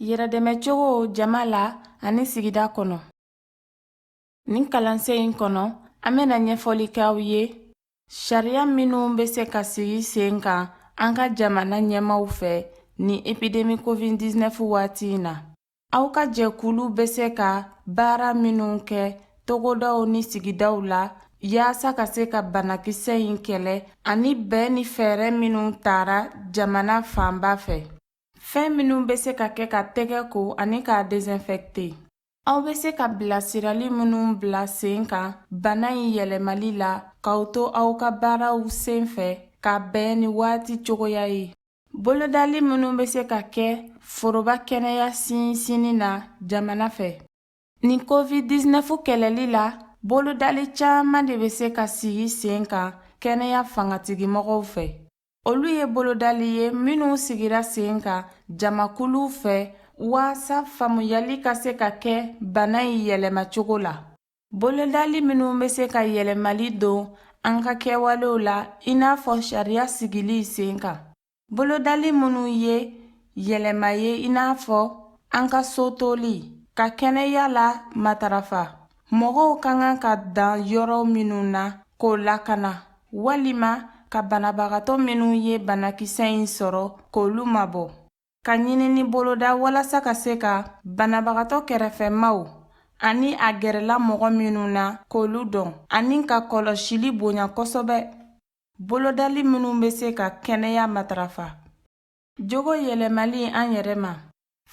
yɛrɛdɛmɛcogo jama la ani sigida kɔnɔ Nin kalansen in kɔnɔ an bɛna ɲɛfɔli kɛ aw ye sariya minnu bɛ se ka sigi sen kan an ka jamana ɲɛmaaw fɛ ni epidemi covid-19 waati in na aw ka jɛkulu bɛ se ka baara minnu kɛ togodaw ni sigidaw la yaasa ka se ka banakisɛ in kɛlɛ ani bɛn ni fɛɛrɛ minnu tara jamana fanba fɛ fɛn minnu bɛ se ka kɛ ka tɛgɛ ko ani k'a desinfɛkte Aw bɛ se ka bilasirali minnu bila sen kan bana in yɛlɛmali la k'aw to aw ka baaraw sen fɛ ka bɛn ni waati cogoya ye. Bolodali minnu bɛ se ka kɛ foroba kɛnɛya sinsinni na jamana fɛ. Nin Covid-19 kɛlɛli la, bolodali caman de bɛ se ka sigi sen kan kɛnɛya fangatigimɔgɔw fɛ. Olu ye bolodali ye minnu sigira sen kan jamakuluw fɛ waasa faamuyali ka se ka kɛ bana in yɛlɛmacogo la. Bolodali minnu bɛ se ka yɛlɛmali don an ka kɛwalew la i n'a fɔ sariya sigili sen kan. Bolodali minnu ye yɛlɛma ye i n'a fɔ an ka so toli, ka kɛnɛya la matarafa, mɔgɔw ka kan ka dan yɔrɔ minnu na k'o lakana walima ka banabagatɔ minnu ye banakisɛ in sɔrɔ k'olu mabɔ ka ɲinini boloda walasa ka se ka banabagatɔ kɛrɛfɛmaaw ani a gɛrɛla mɔgɔ minnu na k'olu dɔn ani ka kɔlɔsili bonya kosɛbɛ bolodali minnu bɛ se ka kɛnɛya matarafa Jogo yɛlɛmali an yɛrɛ ma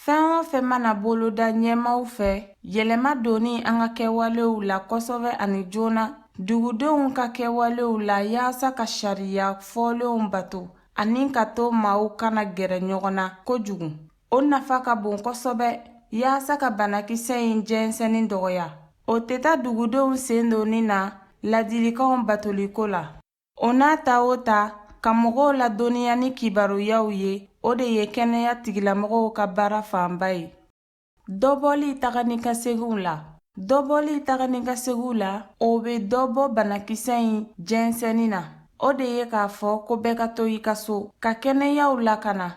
fɛn o fɛn mana boloda ɲɛmaaw fɛ yɛlɛma donni an ka kɛwalew la kosɛbɛ ani joona dugudenw ka kɛwalew la yaasa ka sariya fɔlenw bato ani ka to maaw kana gɛrɛ ɲɔgɔn na kojugu o nafa ka bon kosɛbɛ yaasa ka banakisɛ in jɛnsɛnni dɔgɔya o tɛ taa dugudenw sen donni na ladilikanw batoliko la O n'a ta o ta ka mɔgɔw ladɔnniya ni kibaruyaw ye o de ye kɛnɛya tigilamɔgɔw ka baara fanba ye dɔbɔli taga ni ka seginw la dɔbɔli taga ni ka seginw la o bɛ dɔ bɔ banakisɛ in jɛnsɛnni na o de ye k'a fɔ ko bɛɛ ka to i ka so ka kɛnɛyaw lakana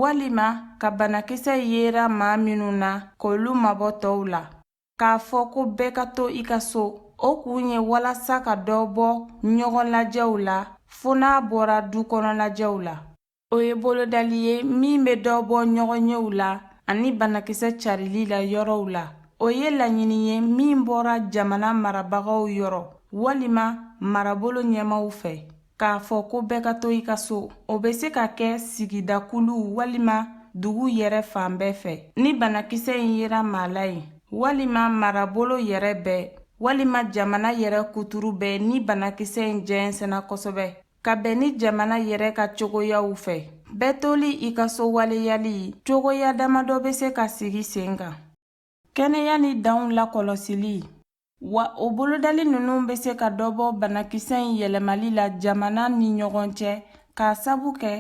walima ka banakisɛ in yera maa minnu na k'olu mabɔ tɔw la k'a fɔ ko bɛɛ ka to i ka so o kun ye walasa ka dɔ bɔ ɲɔgɔn lajɛw la fo n'a bɔra du kɔnɔ lajɛw la o ye bolodali ye min bɛ dɔ bɔ ɲɔgɔn yew la ani banakisɛ carili la yɔrɔw la o ye laɲini ye min bɔra jamana marabagaw yɔrɔ walima marabolo ɲɛmaaw fɛ K'a fɔ ko bɛɛ ka to i ka so, o bɛ se ka kɛ sigidakulu walima dugu yɛrɛ fan bɛɛ fɛ. Ni banakisɛ in yera maa la yen, walima marabolo yɛrɛ bɛɛ walima jamana yɛrɛ kuturu bɛɛ ni banakisɛ in jɛnsɛnna kosɛbɛ ka bɛn ni jamana yɛrɛ ka cogoyaw fɛ, bɛɛ toli i ka so waleyali cogoya damadɔ bɛ se ka sigi sen kan. Kɛnɛya ni danw lakɔlɔsili wa o bolodali ninnu bɛ se ka dɔ bɔ banakisɛ in yɛlɛmali la jamana ni ɲɔgɔn cɛ k'a sabu kɛ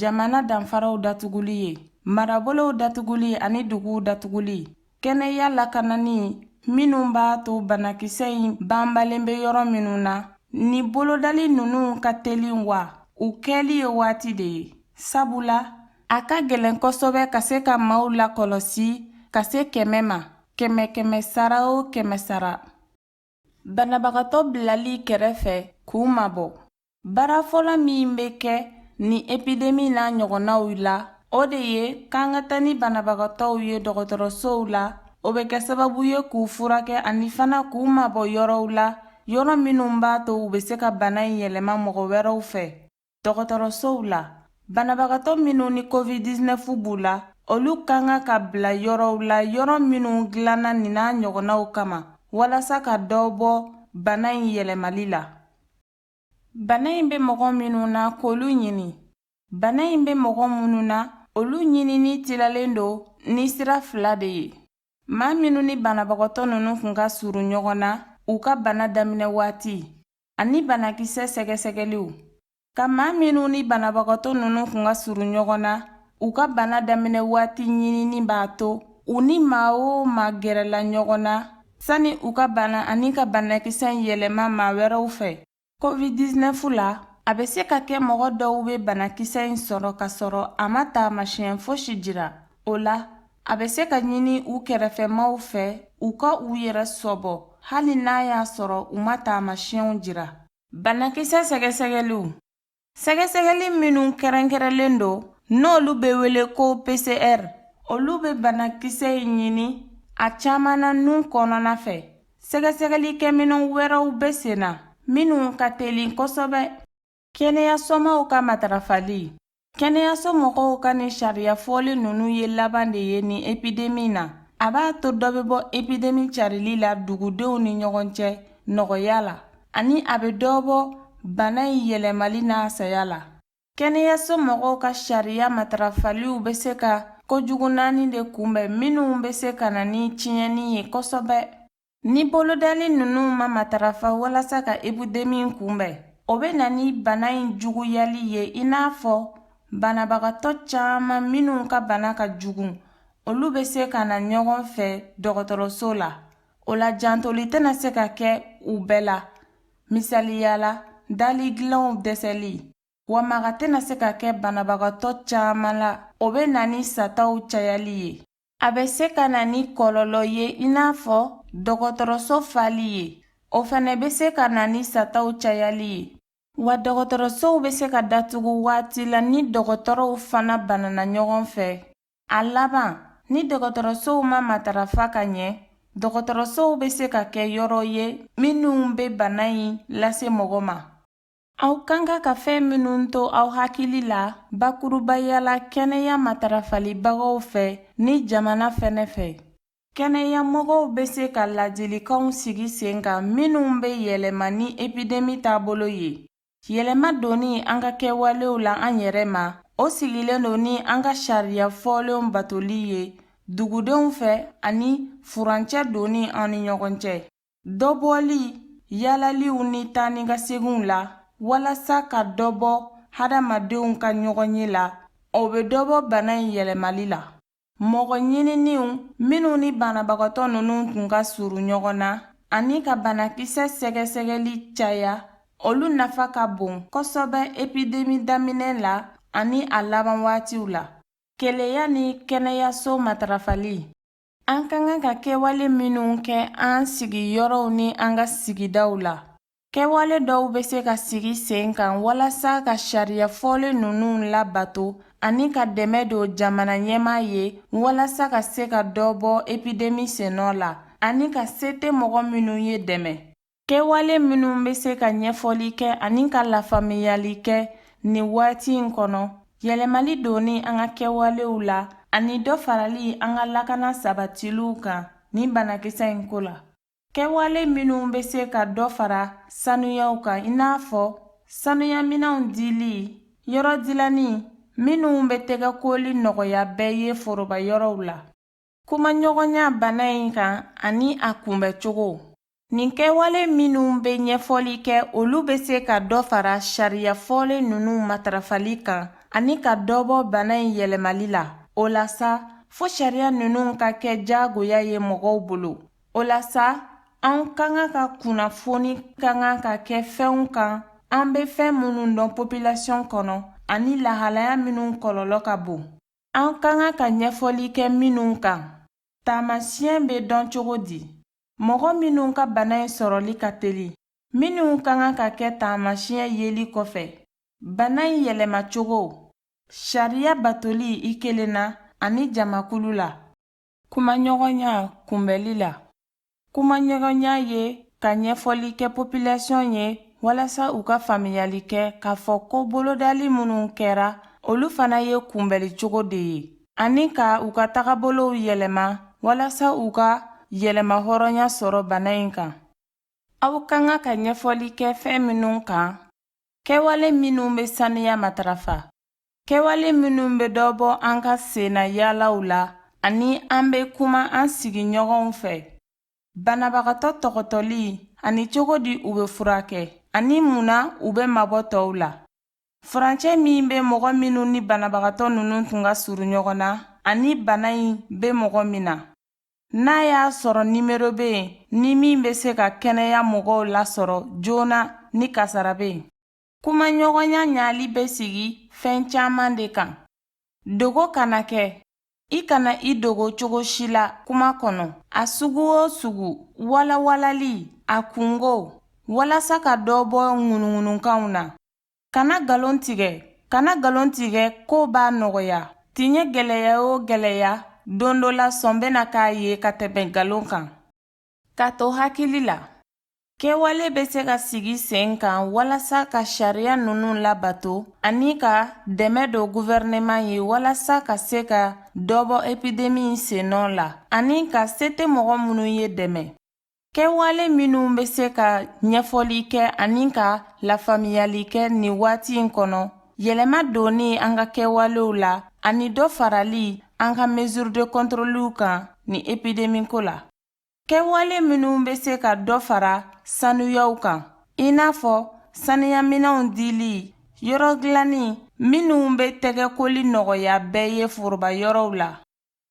jamana danfaraw datuguli ye marabolow datuguli ani duguw datuguli kɛnɛya lakanani minnu b'a to banakisɛ in banbalen bɛ yɔrɔ minnu na ni bolodali ninnu ka teli wa u kɛli ye waati de ye sabula A ka gɛlɛn kosɛbɛ ka se ka maaw lakɔlɔsi ka se kɛmɛ ma kɛmɛ kɛmɛ sara o kɛmɛ sara banabagatɔ bilali kɛrɛfɛ k'u mabɔ baara fɔlɔ min bɛ kɛ nin epidemi n'a ɲɔgɔnnaw la o de ye k'an ka taa ni banabagatɔw ye dɔgɔtɔrɔsow la o bɛ kɛ sababu ye k'u furakɛ ani fana k'u mabɔ yɔrɔw la yɔrɔ minnu b'a to u bɛ se ka bana in yɛlɛma mɔgɔ wɛrɛw fɛ Dɔgɔtɔrɔsow la, banabagatɔ minnu ni COVID-19 b'u la, olu ka kan ka bila yɔrɔw la yɔrɔ minnu dilanna nin n'a ɲɔgɔnnaw kama walasa ka dɔ bɔ bana in yɛlɛmali la. Bana in bɛ mɔgɔ minnu na, k'olu ɲini. Bana in bɛ mɔgɔ minnu na, olu ɲinini tilalen don ni sira fila de ye. Maa minnu ni banabagatɔ ninnu kun ka surun ɲɔgɔn na u ka bana daminɛ waati, ani banakisɛ sɛgɛsɛgɛliw ka maa minnu ni banabagatɔ ninnu kun ka surun ɲɔgɔn na u ka bana daminɛ waati ɲinini b'a to u ni maa o maa gɛrɛla ɲɔgɔn na sani u ka bana ani ka banakisɛ yɛlɛma maa wɛrɛw fɛ covid-19 la a bɛ se ka kɛ mɔgɔ dɔw bɛ banakisɛ in sɔrɔ k'a sɔrɔ a ma taamasiɲɛ fosi jira o la A bɛ se ka ɲini u kɛrɛfɛmaw fɛ u ka u yɛrɛ sɔbɔ hali n'a y'a sɔrɔ u ma taamasiɲɛw jira. Banakisɛ sɛgɛsɛgɛliw Sɛgɛsɛgɛli minnu kɛrɛnkɛrɛnlen don n'olu bɛ wele ko PCR, olu bɛ banakisɛ in ɲini a caman na nun kɔnɔna fɛ. Sɛgɛsɛgɛlikɛminɛn wɛrɛw bɛ senna minnu ka teli kosɛbɛ. Kɛnɛyasomaw ka matarafali kɛnɛyaso mɔgɔw ka nin sariya fɔlen ninnu ye laban de ye nin epidemi na a b'a to dɔ bɛ bɔ epidemi carili la dugudenw ni ɲɔgɔn cɛ nɔgɔya la ani a bɛ dɔ bɔ bana in yɛlɛmali n'a saya la kɛnɛyaso mɔgɔw ka sariya matarafaliw bɛ se ka kojugu naani de kunbɛn minnu bɛ se ka na ni tiɲɛni ye kosɛbɛ Ni bolodali ninnu ma matarafa walasa ka epidemi kunbɛn, o bɛ na ni bana in juguyali ye i n'a fɔ banabagatɔ caman minnu ka bana ka jugu, olu bɛ se ka na ɲɔgɔn fɛ dɔgɔtɔrɔso la. O la jantoli tɛna se ka kɛ u bɛɛ la, misaliya la dali dilanw dɛsɛli, wa maga tɛna se ka kɛ banabagatɔ caman la, o bɛ na ni sataw cayali ye. A bɛ se ka na ni kɔlɔlɔ ye i n'a fɔ dɔgɔtɔrɔso fali ye, o fana bɛ se ka na ni sataw cayali ye. Wa dɔgɔtɔrɔsow bɛ se ka datugu waati la ni dɔgɔtɔrɔw fana banana ɲɔgɔn fɛ. A laban, ni dɔgɔtɔrɔsow ma matarafa ka ɲɛ, dɔgɔtɔrɔsow bɛ se ka kɛ yɔrɔ ye minnu bɛ bana in lase mɔgɔ ma. Aw ka kan ka fɛn minnu to aw hakili la bakurubaya la kɛnɛya matarafalibagaw fɛ ni jamana fɛnɛ fɛ, kɛnɛyamɔgɔw bɛ se ka laadilikanw sigi sen kan minnu bɛ yɛlɛma ni epidemi taabolo ye. Yɛlɛma donni an ka kɛwalew la an yɛrɛ ma, o sigilen don ni an ka sariya fɔlenw batoli ye dugudenw fɛ ani furancɛ donni an ni ɲɔgɔn cɛ. Dɔbɔli yaalaliw ni taanikaseginw la walasa ka dɔ bɔ hadamadenw ka ɲɔgɔnye la, o bɛ dɔ bɔ bana in yɛlɛmali la. Mɔgɔ ɲininniw minnu ni banabagatɔ ninnu tun ka surun ɲɔgɔn na ani ka banakisɛ sɛgɛsɛgɛli caya, olu nafa ka bon kosɛbɛ epidemi daminɛ la ani a laban waatiw la. Kɛnɛya ni kɛnɛyaso matarafali. An ka kan ka kɛwale minnu kɛ an sigiyɔrɔw ni an ka sigidaw la, kɛwale dɔw bɛ se ka sigi sen kan walasa ka sariya fɔlen ninnu labato ani ka dɛmɛ don jamana ɲɛmaa ye walasa ka se ka dɔ bɔ epidemi sennɔ la ani ka se tɛ mɔgɔ minnu ye dɛmɛ. Kɛwale minnu bɛ se ka ɲɛfɔli kɛ ani ka lafaamuyali kɛ nin waati in kɔnɔ, yɛlɛmali donni an ka kɛwalew la ani dɔ farali an ka lakana sabatiliw kan nin banakisɛ in ko la. Kɛwale minnu bɛ se ka dɔ fara sanuyaw kan i n'a fɔ sanuyaminɛnw dili, yɔrɔ dilanni minnu bɛ tɛgɛkoli nɔgɔya bɛɛ ye foroba yɔrɔw la. Kumaɲɔgɔnya bana in kan ani a kunbɛcogo nin kɛwale minnu bɛ ɲɛfɔli kɛ olu bɛ se ka dɔ fara sariya fɔlen ninnu matarafali kan ani ka dɔ bɔ bana in yɛlɛmali la o la sa fo sariya ninnu ka kɛ diyagoya ye mɔgɔw bolo o la sa an ka kan ka kunnafoni ka kan ka kɛ fɛnw kan an bɛ fɛn minnu dɔn popilasiyɔn kɔnɔ ani lahalaya minnu kɔlɔlɔ ka bon An ka kan ka ɲɛfɔli kɛ minnu kan, taamasiyɛn bɛ dɔn cogo di? Mɔgɔ minnu ka bana in sɔrɔli ka teli, minnu ka kan ka kɛ taamasiyɛn yeli kɔfɛ, bana in yɛlɛmacogo, sariya batoli i kelen na ani jamakulu la. Kumaɲɔgɔnya kunbɛli la kumaɲɔgɔnya ye ka ɲɛfɔli kɛ popilasiyɔn ye walasa u ka faamuyali kɛ k'a fɔ ko bolodali minnu kɛra olu fana ye kunbɛli cogo de ye ani ka u ka tagabolow yɛlɛma walasa u ka yɛrɛmahɔrɔnya sɔrɔ bana in kan aw ka kan ka ɲɛfɔli kɛ fɛn minnu kan kɛwale minnu bɛ sanuya matarafa Kɛwale minnu bɛ dɔ bɔ an ka sennayaalaw la ani an bɛ kuma an sigiɲɔgɔnw fɛ, banabagatɔ tɔgɔtɔli ani cogo di u bɛ furakɛ, ani mun na u bɛ mabɔ tɔw la. Furancɛ min bɛ mɔgɔ minnu ni banabagatɔ ninnu tun ka surun ɲɔgɔn na ani bana in bɛ mɔgɔ min na. N'a y'a sɔrɔ nimero bɛ yen ni min bɛ se ka kɛnɛya mɔgɔw lasɔrɔ joona ni kasara bɛ yen. Kumaɲɔgɔnya ɲali bɛ sigi fɛn caman de kan dogo kana kɛ i kana i dogo cogo si la kuma kɔnɔ a sugu o sugu walawalali a kunkow walasa ka dɔ bɔ ŋunuŋununkanw na kana nkalon tigɛ k'o b'a nɔgɔya tiɲɛ gɛlɛya o gɛlɛya don dɔ la sɔn bɛna k'a ye ka tɛmɛ nkalon kan Ka to hakili la, kɛwale bɛ se ka sigi sen kan walasa ka sariya ninnu labato ani ka dɛmɛ don guvɛrɛnɛman ye walasa ka se ka dɔ bɔ epidemi in sennɔ la ani ka se tɛ mɔgɔ minnu ye dɛmɛ. Kɛwale minnu bɛ se ka ɲɛfɔli kɛ ani ka lafaamuyali kɛ nin waati in kɔnɔ, yɛlɛma donni an ka kɛwalew la ani dɔ farali an ka mesures de contrôle kan nin epidemi ko la. Kɛwale minnu bɛ se ka dɔ fara sanuyaw kan i n'a fɔ sanuyaminɛnw dili yɔrɔ dilanni minnu bɛ tɛgɛkoli nɔgɔya bɛɛ ye foroba yɔrɔw la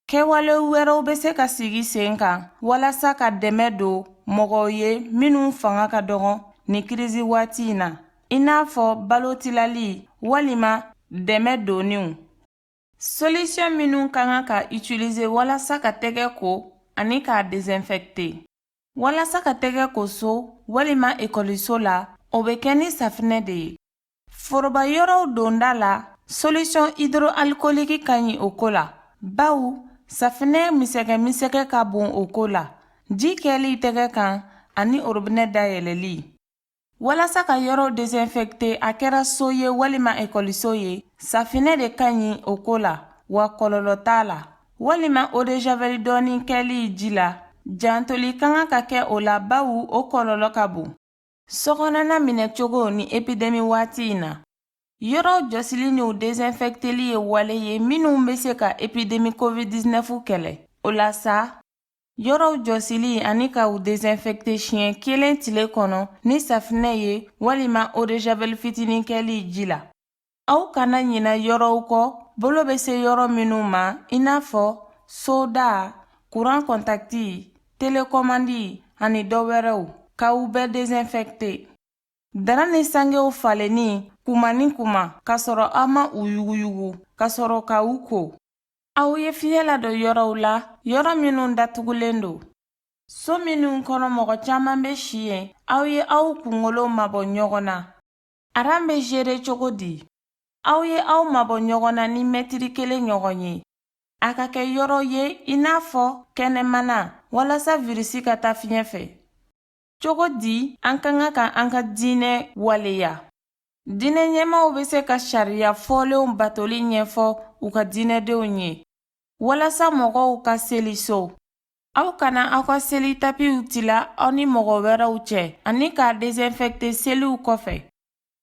kɛwale wɛrɛw bɛ se ka sigi sen kan walasa ka dɛmɛ don mɔgɔw ye minnu fanga ka dɔgɔn nin kirisi waati in na i n'a fɔ balo tilali walima dɛmɛ donniw Solisiyɔn minnu ka kan ka itilize walasa ka tɛgɛ ko ani k'a desinfɛkte walasa ka tɛgɛ ko so walima ekɔliso la o bɛ kɛ ni safinɛ de ye foroba yɔrɔw donda la solisɔn idro alikoliki ka ɲi o ko la baw safinɛ misɛgɛmisɛgɛ ka bon o ko la ji kɛli tɛgɛ kan ani orobinɛ dayɛlɛli Walasa ka yɔrɔw desinfecter a kɛra so ye walima ekɔliso ye, safinɛ de ka ɲi o ko la, wa kɔlɔlɔ t'a la. Walima eau de javel dɔɔni kɛli ji la, jantoli ka kan ka kɛ o la bawo o kɔlɔlɔ ka bon. Sokɔnɔna minɛcogo ni epidemi waati in na. Yɔrɔw jɔsili ni u desinfecteli ye wale ye minnu bɛ se ka epidemi Covid-19 kɛlɛ. O la sa, Yɔrɔw jɔsili ani ka u desinfecter siɲɛ kelen tile kɔnɔ ni safinɛ ye walima eau de javel fitinin kɛli ji la. Aw kana ɲina yɔrɔw kɔ bolo bɛ se yɔrɔ minnu ma i n'a fɔ soda, kuran kɔntakiti, telekɔmandi ani dɔ wɛrɛw, ka u bɛɛ desinfecter. Dara ni sangew falenni kuma ni kuma, ka sɔrɔ aw ma u yuguyugu, ka sɔrɔ ka u ko. Aw ye fiɲɛ ladon yɔrɔw la, yɔrɔ minnu datugulen don. So minnu kɔnɔ mɔgɔ caman bɛ si yen, aw ye aw kunkolo mabɔ ɲɔgɔn na. Aran bɛ jere cogo di? Aw ye aw mabɔ ɲɔgɔn na ni mɛtiri kelen ɲɔgɔn ye. A ka kɛ yɔrɔ ye i n'a fɔ kɛnɛmana walasa virisi ka taa fiɲɛ fɛ. Cogo di an ka kan ka an ka diinɛ waleya diinɛ ɲɛmaaw bɛ se ka sariya fɔlenw batoli ɲɛfɔ u ka diinɛdenw ye walasa mɔgɔw ka seli so aw kana aw ka seli tapiw tila aw ni mɔgɔ wɛrɛw cɛ ani k'a desinfɛkte seliw kɔfɛ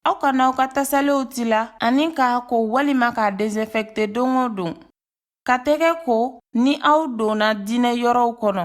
aw kana aw ka tasalenw tila ani k'a ko walima k'a desinfɛkte don o don ka tɛgɛ ko ni aw donna diinɛ yɔrɔw kɔnɔ